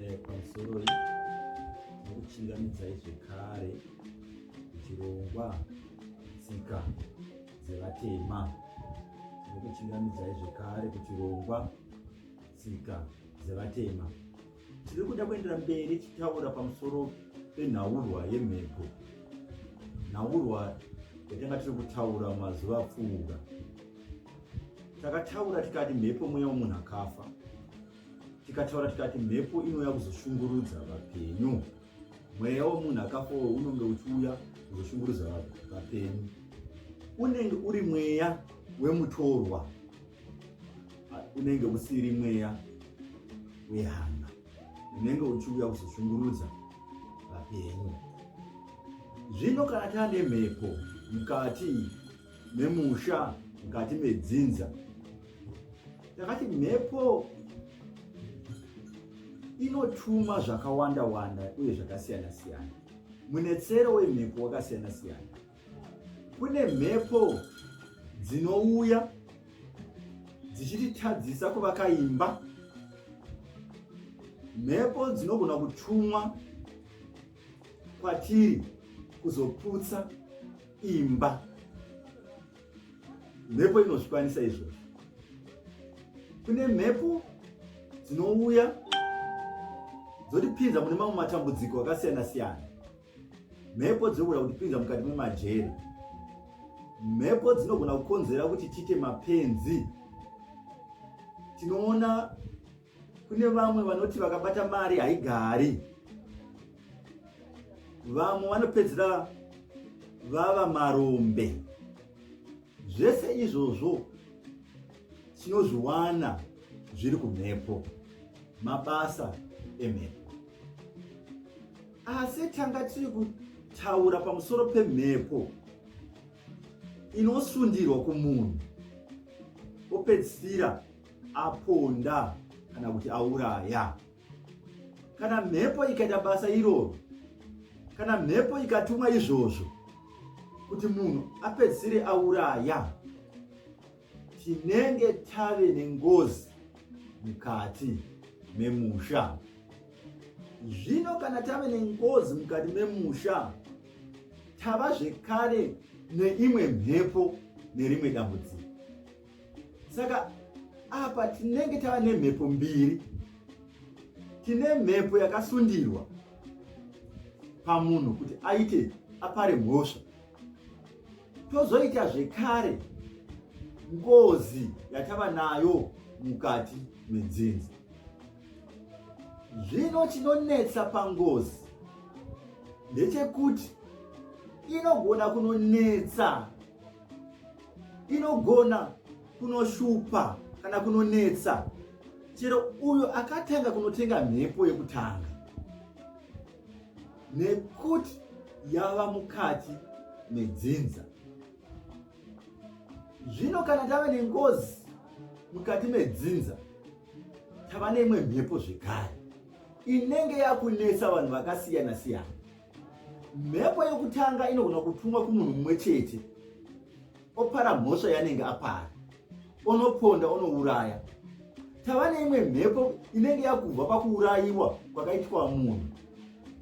eh, pamusoroi nokuchingamidzai zvekare chirongwa tsika dzevatema nokuchingamidzai zvekare kuchirongwa tsika dzevatema tiri kuda kuendera mberi tichitaura pamusoro penhaurwa yemhepo nhaurwa yatanga tiri kutaura mazuva apfuura Takataura tikati mhepo mweya womunhu akafa, tikataura tikati mhepo inouya kuzoshungurudza vapenyu. Mweya womunhu akafa uwo unonge uchiuya kuzoshungurudza vapenyu, unenge uri mweya wemutorwa, unenge usiri mweya wehana, unenge uchiuya kuzoshungurudza vapenyu. Zvino kana tane mhepo mukati memusha mukati medzinza ndakati mhepo inotuma zvakawanda wanda uye zvakasiyana siyana munetsero wemhepo wakasiyana siyana kune mhepo dzinouya dzichititadzisa kuvaka imba mhepo dzinogona kutumwa kwatiri kuzoputsa imba mhepo inozvikwanisa izvozvo kune mhepo dzinouya dzotipinza mune mamwe matambudziko akasiyana siyana mhepo dzinogona kutipinza mukati memajeri mhepo dzinogona kukonzera kuti tiite mapenzi tinoona Kune vamwe vanoti vakabata mari haigari. Vamwe vanopedzera vava marombe. Zvese izvozvo tinozviwana zviri kumhepo, mabasa emhepo. Asi tanga tiri kutaura pamusoro pemhepo inosundirwa kumunhu opedzisira aponda kana kuti auraya. Kana mhepo ikaita basa iroro, kana mhepo ikatumwa izvozvo kuti munhu apedzisire auraya, tinenge tave nengozi mukati memusha. Zvino kana tave nengozi mukati memusha, tava zvekare neimwe mhepo nerimwe dambudziko. saka apa tinenge tava nemhepo mbiri tine mhepo yakasundirwa pamunhu kuti aite apare mhosva tozoita zvekare ngozi yatava nayo mukati menzinza zvino chinonetsa pangozi ndechekuti inogona kunonetsa inogona kunoshupa kana kunonetsa chero uyo akatanga kunotenga mhepo yekutanga nekuti yava mukati medzinza zvino kana tava nengozi mukati medzinza tava neimwe mhepo zvekare inenge yakunetsa vanhu vakasiyana siyana Mhepo yokutanga inogona kutumwa kumunhu mumwe chete, opara mhosva yanenge apara, onoponda, onouraya. Tava neimwe mhepo inenge yakubva pakuurayiwa kwakaitwa munhu,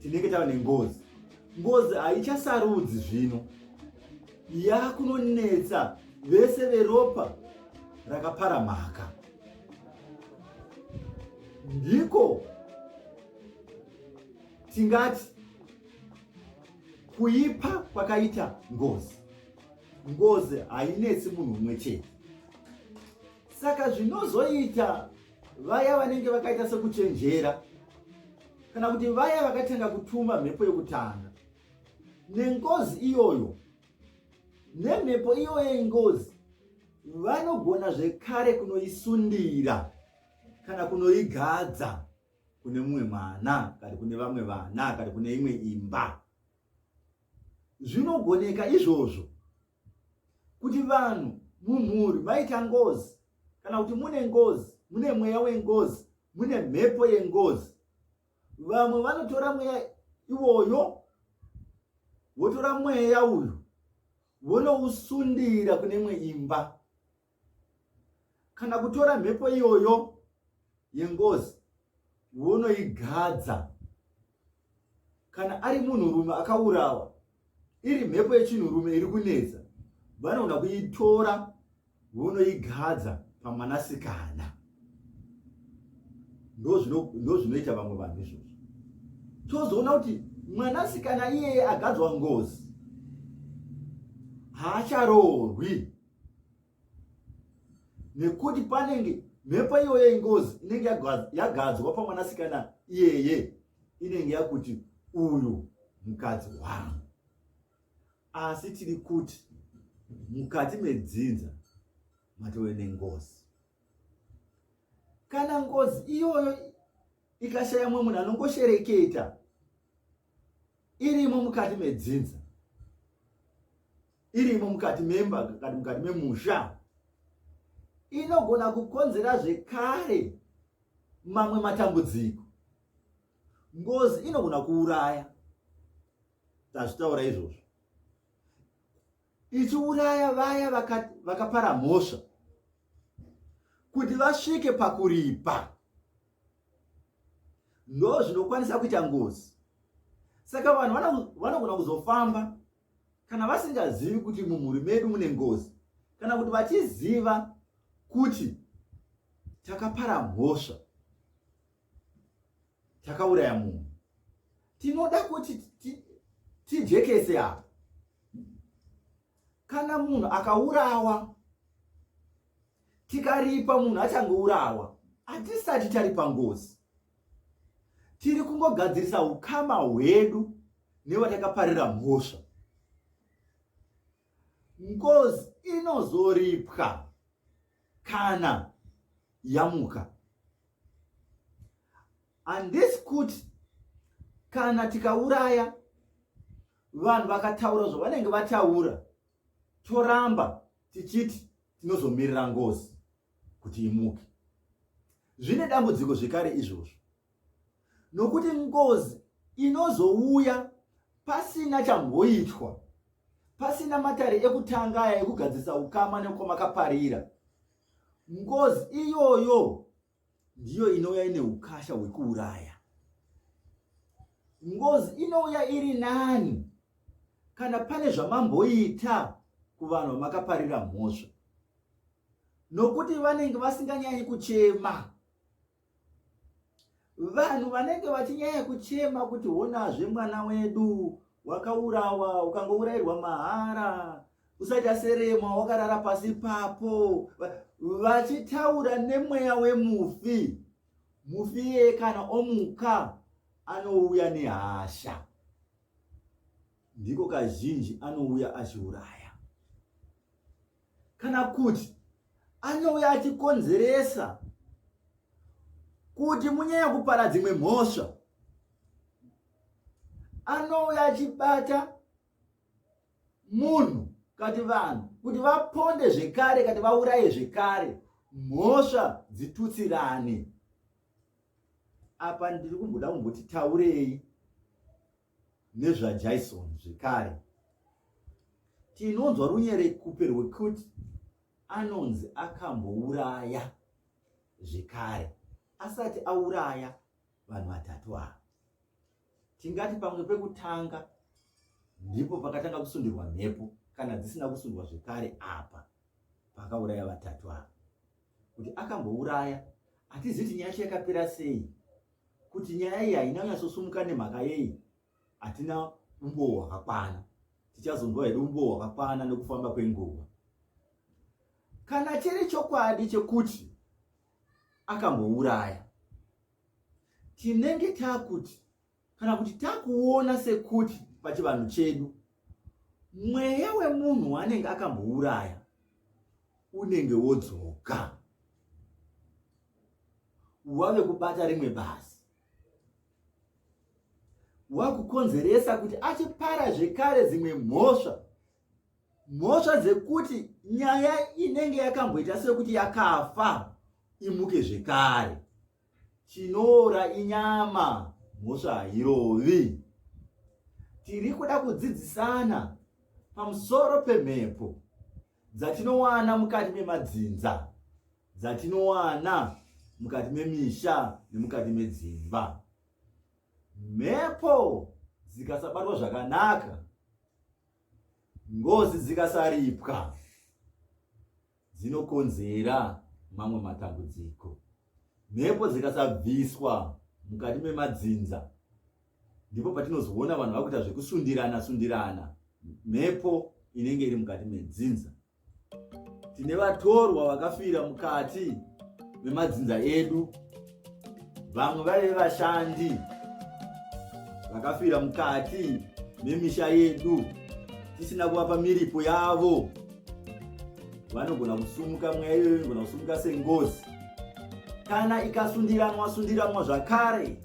tinenge tava nengozi. Ngozi haichasarudzi zvino, yakunonetsa vese veropa rakapara mhaka. Ndiko tingati kuipa kwakaita ngozi ngozi hainetsi munhu umwe chete saka zvinozoita vaya vanenge vakaita sekuchenjera kana kuti vaya vakatanga kutuma mhepo yekutanga nengozi iyoyo nemhepo iyoyo yengozi vanogona zvekare kunoisundira kana kunoigadza kune mumwe mwana kana kune vamwe vana kana kune imwe imba zvinogoneka izvozvo kuti vanhu mumhuri vaita ngozi kana kuti mune ngozi mune mweya wengozi mune mhepo yengozi vamwe vanotora mweya iwoyo votora mweya uyu vonousundira kune imwe imba kana kutora mhepo iyoyo yengozi wonoigadza kana ari munhurume akaurawa iri mhepo yechinhurume iri kunetsa vanogona kuitora vonoigadza pamwanasikana ndozvinoita vamwe vanhu izvozvo tozoona kuti mwanasikana iyeye agadzwa ngozi haacharoorwi nekuti panenge mhepo iyoyo yengozi inenge yagadzwa pamwanasikana iyeye inenge yakuti uyu mukadzi wangu asi tiri kuti mukati medzinza matove nengozi kana ngozi iyoyo ikashaya mumwe munhu anongoshereketa irimo mukati medzinza irimo mukati memba kana mukati memusha inogona kukonzera zvekare mamwe matambudziko ngozi inogona kuuraya tazvitaura izvozvo ichiuraya vaya vakapara vaka mhosva kuti vasvike pakuripa ndo zvinokwanisa kuita ngozi saka vanhu vanogona kuzofamba kana vasingazivi kuti mumhuri medu mune ngozi kana kuti vachiziva kuti takapara mhosva takauraya munhu tinoda kuti tijekese apa kana munhu akaurawa tikaripa munhu achangourawa hatisati taripa ngozi tiri kungogadzirisa ukama hwedu nevatakaparira mhosva ngozi inozoripwa kana yamuka and this kuti kana tikauraya vanhu vakataura zvavanenge vataura toramba tichiti tinozomirira ngozi kuti imuke zvine dambudziko zvekare izvozvo nokuti ngozi inozouya pasina chamboitwa pasina matare ekutanga aya ekugadzisa ukama nekwamakaparira ngozi iyoyo ndiyo inouya ine ukasha hwekuuraya ngozi inouya iri nani kana pane zvamamboita kuvanhu vamakaparira mhosva nokuti vanenge vasinganyanyi kuchema vanhu vanenge vachinyaya kuchema kuti honazve mwana wedu wakaurawa ukangourairwa mahara usaita serema wakarara pasi papo vachitaura nemweya wemufi mufi iye kana omuka anouya nehasha ndiko kazhinji anouya achiuraya kana kuti anouya achikonzeresa kuti munyanya kupara dzimwe mhosva anouya achibata munhu kati vanhu kuti vaponde zvekare kati vauraye zvekare mhosva dzitutsirane apa ndiri kumboda kumboti taurei nezvaJaison zvekare. Tinonzwa runyerekupe rwekuti anonzi akambouraya zvekare asati auraya vanhu vatatu ava. Tingati pamwe pekutanga ndipo pakatanga kusundirwa mhepo kana dzisina kusundwa zvekare apa pakauraya vatatu ava. Kuti akambouraya hatizivi kuti nyaya yacho yakapera sei kuti nyaya iyi haina kunyatsosumuka nemhaka yei hatina umbowo hwakakwana tichazonzwa here umbowo hwakakwana nekufamba kwenguva kana chiri chokwadi chekuti akambouraya tinenge takuti kana kuti takuona sekuti pachivanhu chedu mweya wemunhu waanenge akambouraya unenge wodzoka wave kubata rimwe bazi wakukonzeresa kuti achipara zvekare dzimwe mhosva mhosva dzekuti nyaya inenge yakamboita sekuti yakafa imuke zvekare chinoora inyama mhosva hairovi tiri kuda kudzidzisana pamusoro pemhepo dzatinowana mukati memadzinza dzatinowana mukati memisha nemukati medzimba mhepo dzikasabatwa zvakanaka ngozi dzikasaripwa dzinokonzera mamwe matambudziko mhepo dzikasabviswa mukati memadzinza ndipo patinozoona vanhu vakuita zvekusundirana sundirana mhepo inenge iri mukati medzinza tine vatorwa vakafira mukati memadzinza edu vamwe vaive vashandi vakafira mukati memisha yedu tisina kuvapa miripo yavo vanogona kusumuka mweya iyoyo inogona kusumuka sengozi kana ikasundiranwa sundiranwa zvakare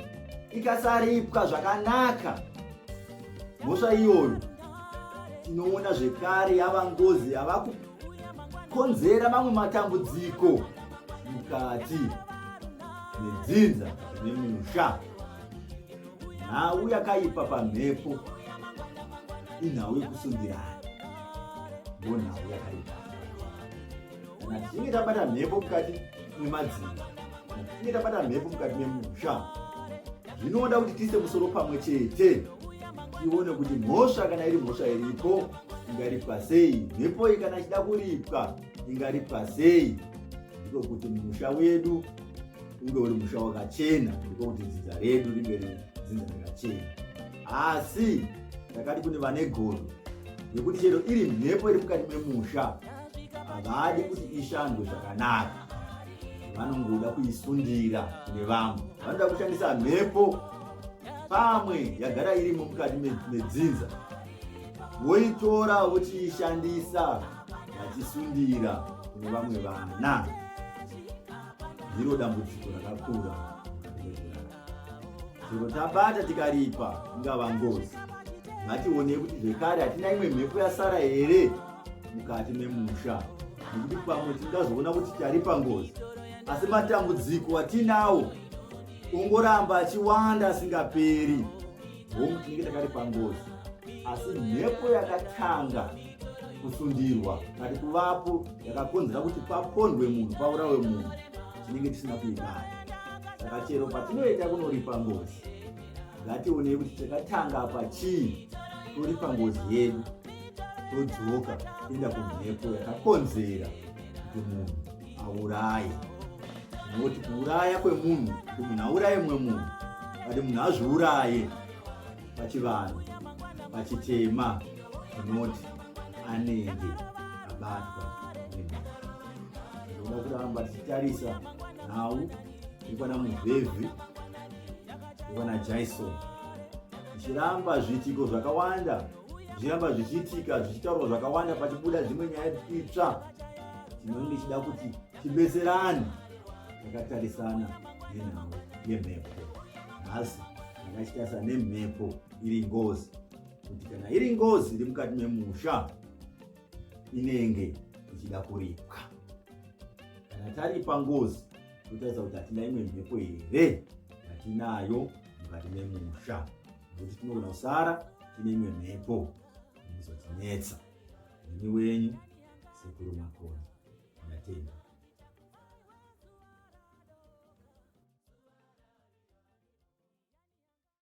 ikasaripwa zvakanaka mhosva iyoyo tinoona zvekare yava ngozi yava kukonzera mamwe matambudziko mukati nedzinza nemusha nhau yakaipa pamhepo inhau yekusungirana ndo nhau yakaipa kana tichinge tabata mhepo mukati memadzimba kana tichinge tabata mhepo mukati memusha zvinoda kuti tiise musoro pamwe chete tione kuti mhosva kana iri mhosva iripo ingaripwa sei mhepo iyi kana ichida kuripwa ingaripa sei ndiko kuti musha wedu unge uri musha wakachena ndiko kuti dzinza redu ringe riri dzinza rakachena asi ndakati kune vane godo nekuti chero iri mhepo iri mukati memusha havadi kuti ishandwe zvakanaka vanongoda kuisundira kune vamwe vanoda kushandisa mhepo pamwe yagara irimo mukati medzinza voitora vochiishandisa vachisundira kune vamwe vana ndiro dambudziko rakakura zviro tabata tikaripa ingava ngozi ngationei kuti zvekare hatina imwe mhepo yasara here mukati memusha nekuti pamwe tingazoona kuti taripa ngozi asi matambudziko atinawo ongoramba achiwanda asingaperi hongu tinenge takari pangozi asi mhepo yakatanga kusundirwa kati kuvapo yakakonzera kuti papondwe munhu paurawe munhu tinenge tisina kuibata saka chero patinoenda kunoripa ngozi ngationei kuti takatanga apa chii toripa ngozi yedu todzoka toenda kumhepo yakakonzera kuti munhu auraye nekuti kuuraya kwemunhu kuti munhu auraye mumwe munhu vati munhu azviuraye pachivanhu pachitema unoti anenge abatwa nekuda kuramba tichitarisa nhau ikwana muvhevhi ikwana jaison zvichiramba zviitiko zvakawanda zviramba zvichiitika zvichitaurwa zvakawanda pachibuda dzimwe nyaya itsva chinoi ndichida kuti tibetserane takatarisana nenhau yemhepo nhasi ndakachitarisa nemhepo iri ngozi kuti kana iri ngozi iri mukati memusha inenge ichida kuripwa kana taripa ngozi totaridza kuti hatina imwe mhepo here yatinayo mukati memusha nokuti tinogona kusara tine imwe mhepo inozotinetsa ini wenyu sekuru makoni ndatenda